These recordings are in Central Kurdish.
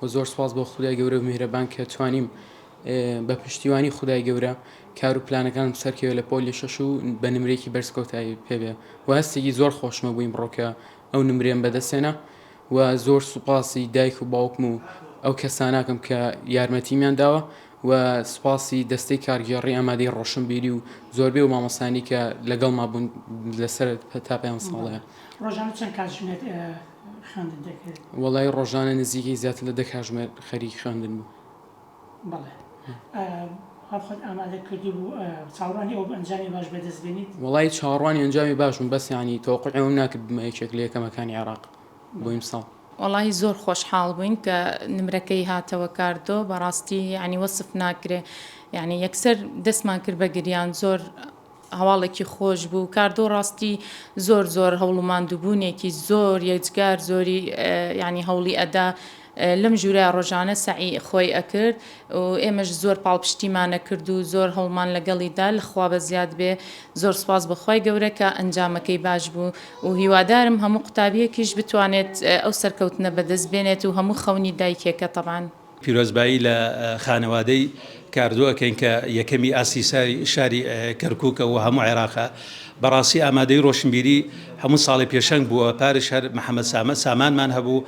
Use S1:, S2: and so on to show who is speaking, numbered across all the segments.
S1: وە زۆر سوپاس بۆ خودای گەورەو میهرەبان کە توانیم بە پشتیوانی خودای گەورە کار و پلانەکانم سەرکەوێ لە پۆلی شەش و بە نمرێکی بەرز کۆتایی پێبێ و هەستێکی زۆر خۆشمە بووین بڕۆکە ئەو نمرێن بەدەستێنە و زۆر سوپاسی دایک و باوکم و ئەو کەساناکەم کە یارمەتیمیان داوە و سوپاسی دەستەی کارگێڕی ئامادەی ڕۆشنبیری و زۆربەی و مامۆسانی کە لەگەڵ مابوون لەسەر تا پێیان ساڵەیە ڕۆژانە چەند کاتژمێر
S2: خوێندن دەکرد؟ وەڵایی ڕۆژانە
S1: نزیکەی زیاتر لە دە کاژمێر خەریک خوێندن بووم. بەڵێ. ئایا خۆت ئامادە کردبوو؟ چاوەڕوانی ئەوە
S2: بوو ئەنجامی باش بەدەست بێنیت؟ وەڵایی چاوەڕوانی
S1: ئەنجامی باش بووم، بەس یانی تەوەقوعی ئەوەم ناکرد ببمە یەکێک لە یەکەمەکانی عێراق بۆ ئیمساڵ. وەڵایی زۆر
S3: خۆشحاڵ بووین کە نمرەکەی هاتەوە کاردۆ بەڕاستی یانی وەسف ناکرێ یانی یەکسەر دەستمان کرد بە گریان زۆر هەواڵێکی خۆش بوو کاردۆ ڕاستی زۆر زۆر هەوڵ و ماندووبوونێکی زۆر یەجگار زۆری یعنی هەوڵی ئەدا لەم ژوورە ڕۆژانە سەعی خۆی ئەکرد و ئێمەش زۆر پاڵپشتیمانە کرد و زۆر هەوڵمان لەگەڵیدا لەخوا بەزیاد بێ زۆر سپاس بەخوای گەورە کە ئەنجامەکەی باش بوو و هیوادارم هەموو قوتابیەکیش بتوانێت ئەو سەرکەوتنە بەدەست بێنێت و هەموو خەونی دایکێکە تەبان پیرۆزبایی لە
S4: خانەوادەی کاردۆ ئەکەین کە یەکەمی ئاستی شاری کەرکوکە و هەموو عێراقە بەڕاستی ئامادەی ڕۆشنبیری هەموو ساڵی پێشەنگ بووە پارش هەر محەممەد سامە سامانمان هەبوو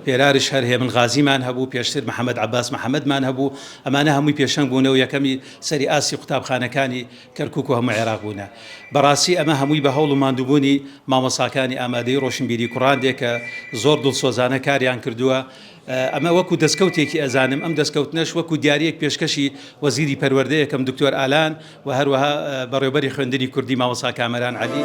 S4: پێرارش هەر هێمن غازیمان هەبوو پێشتر محەممەد عباس محەممەدمان هەبوو ئەمانە هەمووی پێشەنگ بوونە و یەکەمی سەری ئاستی قوتابخانەکانی کەرکک و هەموو عێراق بوونە بەڕاستی ئەمە هەمووی بە هەوڵ و مادووبوونی مامۆساکانی ئامادەی ڕۆشنبیری کوڕاندێکە زۆر دڵسۆزانە کاریان کردووە ئەمە وەکو دەستکەوتێکی ئەزانم، ئەم دەستکەوتنەش وەکو دیارییەک پێشکەشی وەزیری پەروەردەی ئەکەم دکتۆر ئالان و هەروەها بەڕێوبەری خوێندنی کوردی مامۆستا کامەران عەلی.